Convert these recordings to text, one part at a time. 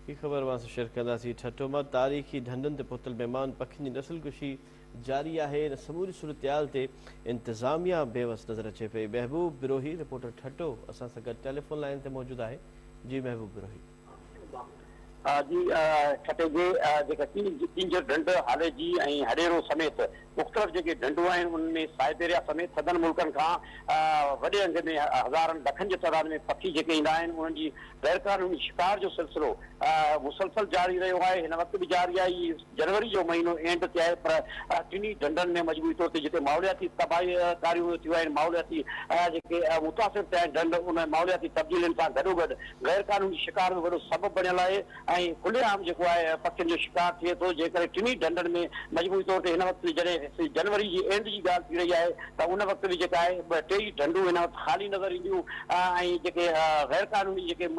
هي خبر اوهان سان شيئر ڪنداسين. ٺٽو مان تاريخي ڍنڍن تي پهتل ميمان پکين جي نسل ڪشي جاري آهي، ان سموري صورتحال تي انتظاميا بيوس نظر اچي پئي. محبوب بروهي رپورٽر ٺٽو اسان سان گڏ ٽيليفون لائين تي موجود آهي جي محبوب بروهي. جي ٺٽي جي جيڪا ڪينجهر ڍنڍ، هاليجي ۽ هڏيرو سميت مختلف جيڪي ڍنڍون آهن انهن ۾ سائبيريا سميت سندن ملڪن کان وڏي انگ ۾ هزارن لکن جي تعداد ۾ پکي جيڪي ايندا آهن انهن جي غيرقانوني شڪار جو سلسلو مسلسل جاري رهيو آهي هن وقت به جاري آهي هي جنوري جو مهينو اينڊ تي آهي پر ٽنهي ڍنڍن ۾ مجموعي طور تي جتي ماحولياتي تباهي ڪاريون ٿيون آهن ماحولياتي جيڪي متاثر ٿيا آهن ڍنڍ ان ماحولياتي تبديلين سان گڏوگڏ غيرقانوني شڪار به وڏو سبب بڻيل آهي ۽ کلي عام جيڪو آهي پکين جو شڪار ٿئي ٿو جنهن ڪري ٽنهي ڍنڍن ۾ مجموعي طور تي هن وقت به جڏهن جنوري جي اينڊ جي ڳالهه ٿي رهي آهي ته ان وقت به جيڪا آهي ٻه ٽي ئي ڍنڍون هن وقت خالي نظر اينديون ۽ جيڪي غير قانوني جيڪي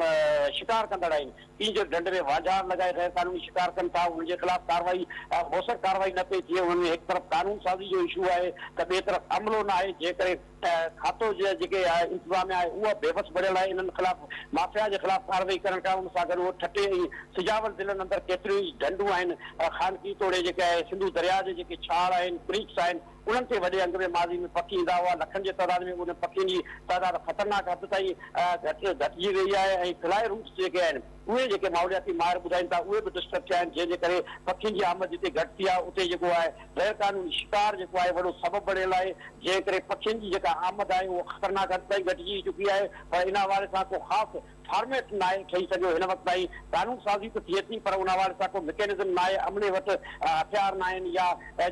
شڪار ڪندڙ آهن تين جو ڍنڍ ۾ وانجهار لڳائي غير قانوني شڪار ڪن ٿا انهن جي خلاف ڪارروائي موثر ڪارروائي نه پئي ٿئي انهن ۾ هڪ طرف قانون سازي جو اشو آهي ته ٻئي طرف عملو ناهي جنهن ڪري ته کاتو جي جيڪي انتظاميا آهي اها بي وس بڻيل آهي انهن خلاف مافيا جي خلاف ڪارروائي ڪرڻ ڪا ان سان گڏ اهو ٺٽي ۽ سجاول ضلعن اندر ڪيتريون ئي ڍنڍون آهن خانڪي توڙي جيڪي آهي سنڌو درياء جي جيڪي ڇاڙ آهن ڪريڪس آهن انهن تي وڏي انگ ۾ ماضي ۾ پکي ايندا هئا لکن جي تعداد ۾ انهن پکين جي تعداد خطرناڪ حد تائين گهٽ گهٽجي ويئي آهي ۽ فلائي روٽس جيڪي آهن اهي جيڪي ماحولياتي ماهر ٻڌائين ٿا اهي به ڊسٽرب ٿيا آهن جنهن جي ڪري پکين جي آمد جتي گهٽ ٿي آهي اتي جيڪو آهي غير قانوني شڪار جيڪو آهي وڏو سبب بڻيل آهي جنهن ڪري پکين جي جيڪا آمد آهي اهو خطرناڪ حد تائين گهٽجي چڪي آهي پر ان حوالي سان ڪو خاص فارميٽ ناهي ٺهي سگهيو هن وقت تائين قانون سازي ته ٿئي ٿي پر ان حوالي سان ڪو مڪينزم ناهي عملي وٽ هٿيار ناهن يا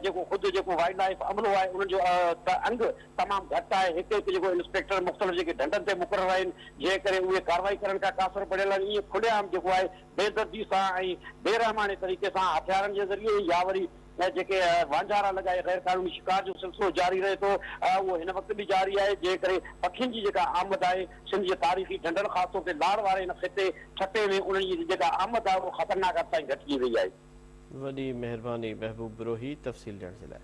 جيڪو خود جيڪو وائلڊ لائيف عملو آهي انهن جو ته انگ تمام گهٽ آهي، هڪ هڪ جيڪو انسپيڪٽر مختلف جيڪي ڍنڍن تي مقرر آهن، جنهن ڪري اهي ڪارروائي ڪرڻ کان قاصر پڙهيل آهن، ائين کلي عام جيڪو آهي بي دردي سان ۽ بي رحماڻي طريقي سان هٿيارن جي ذريعي يا وري جيڪي وانجهارا لڳائي غير قانوني شڪار جو سلسلو جاري رهي ٿو، اهو هن وقت به جاري آهي، جنهن ڪري پکين جي جيڪا آمد آهي، سنڌ جي تاريخي ڍنڍن خاص طور تي لاڙ واري هن خطي، ٺٽي، ۾ انهن جي جيڪا آمد آهي اها خطرناڪ حد تائين گهٽجي وئي آهي. وڏي مهرباني محبوب بروهي تفصيل ڏيڻ جي لاء.